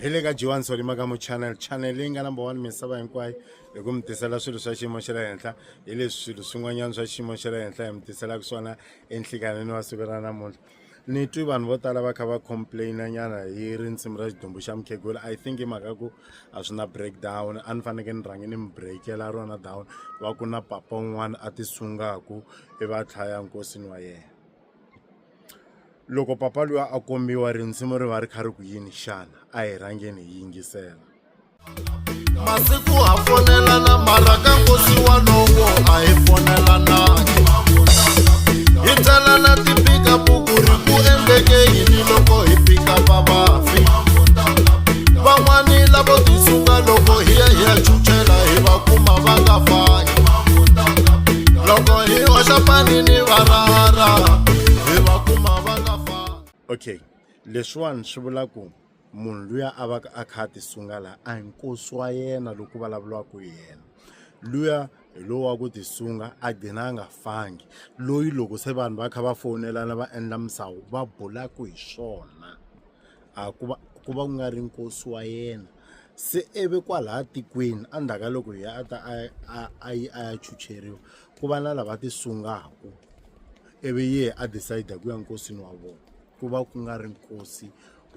hi le ka johan solima ka mu channel channel leyi nga number one misava hinkwayo hi ku mi tisela swilo swa xiyimo xa le henhla hi leswi swilo swin'wanyana swa xiyimo xa le henhla hi mi tiselaka swona enhlikanini wa siku ra namuntlha ni twi vanhu vo tala va kha va complaina nyana hi rinsimu ra xidumbu xa mukhegula i think hi mhaka ku a swi na breakdown a ni fanekele ni rhange ni mi breakela rona down va ku na papa un'wana a ti sungaku i va tlhaya nkosini wa yena loko papa luya a kombiwa rinsimu ri va ri kha ri ku yini xana a hi rhangeni hi yingisela masiku ha fonelana mara ka nkosi walowo a hi fonelanangi hi tsalana tipika buku ri ku endleke yini loko hi pika vavafi van'wani lavo tisunga loko hi ya hi ya chuchela hi va kuma va nga fangi loko hi hoxa pani ni varara hi va kuma va nga fani okay leswiwani swi vula ku munhu luya a va a kha a tisunga laha a hi nkosi wa yena loko vulavuriwaka hi yena luya hi lowu wa ku tisunga a gcina a nga fangi loyi loko se vanhu va kha va fowunelana va endla misawu va bulaku hi swona a ku va ku va ku nga ri nkosi wa yena se i ve kwalaya tikweni endzhaku ka loko a ta a a a yi a ya chucheriwa ku va na lava ti sungaka i vi yehe a decide ku ya nkosini wa vona ku va ku nga ri nkosi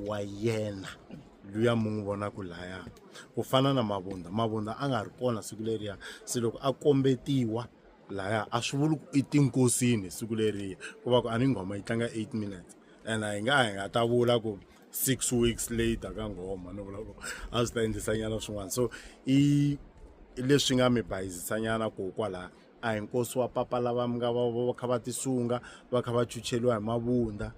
wa yena luya mi n'wi vonaka laya ku fana na mavundza mavundza a nga ri kona siku leriya se loko a kombetiwa laya a swi vuli ku i tinkosini siku leriya ku va ku a ni nghoma yi tlanga eight minutes. and hi nga hi nga ta vula ku six weeks later ka nghoma no vula ku a swi ta endlisanyana swin'wana so i leswi nga mi bayizisanyana ko kwalaha a hi nkosi wa papa lava mi nga va va kha va tisunga va kha va chucheliwa hi mavunda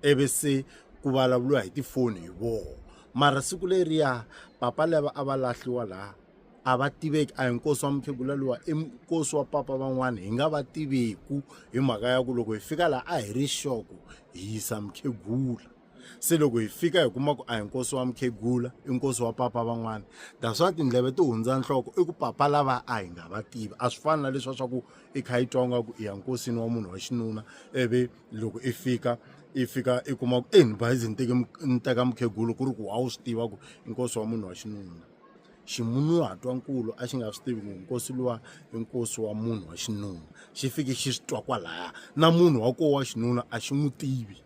ivi se ku vulavuriwa hi tifoni hi voho mara siku leriya papa lava a va lahliwa laha a va tiveki a hi nkosi wa mukhegula luwa i nkosi wa papa van'wana hi nga va tiveku hi mhaka ya ku loko hi fika laha a hi ri xoko hi yisa mukhegula se loko hi fika hi kuma ku a hi nkosi wa mukhegula i nkosi wa papa van'wana ta swa tindleve ti hundza nhloko i ku papa lava a hi nga va tivi a swi fani na leswa swa ku i kha yi twa nga ku i ya nkosini wa munhu wa xinuna ivi loko i fika i fika i kuma ku e ni bayizi ni teke ni teka mukhegulu ku ri ku a wu swi tiva ku i nkosi wa munhu wa xinuna ximunhuhatwa-nkulu a xi nga swi tivi ku nkosi luwa i nkosi wa munhu wa xinuna xi fike xi swi twa kwalaya na munhu wa koho wa xinuna a xi n'wi tivi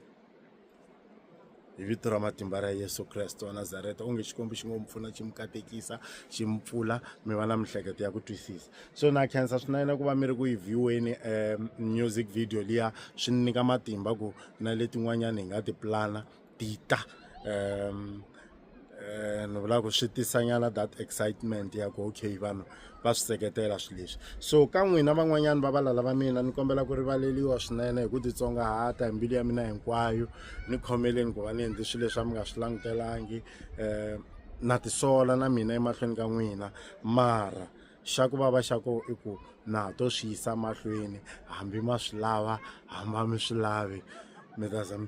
hi vito ra matimba ra yesu kreste wa nazareta onge xikwembu xi ngo mi pfuna xi mi katekisa xi mi pfula mi va na mihleketo ya ku twisisa so na khensa swinene ku va mi ri ku yi vhiweni um eh, music video liya swi ni nyika matimba ku na letin'wanyana hi nga ti plana data ni vula ku swi tisanyana that excitement ya ku okay vanhu va swi seketela swilo leswi so ka n'wina van'wanyana va valala va mina ni kombela ku rivaleliwa swinene hi ku titsongahata hi mbilu ya mina hinkwayo ni khomeleni ku va ni endli swilo leswi a mi nga swi langutelangi um na tisola na mina emahlweni ka n'wina mara xa ku vava xa ko i ku na ha to swi yisa mahlweni hambi ma swi lava hamba mi swi lavi mi ta za mi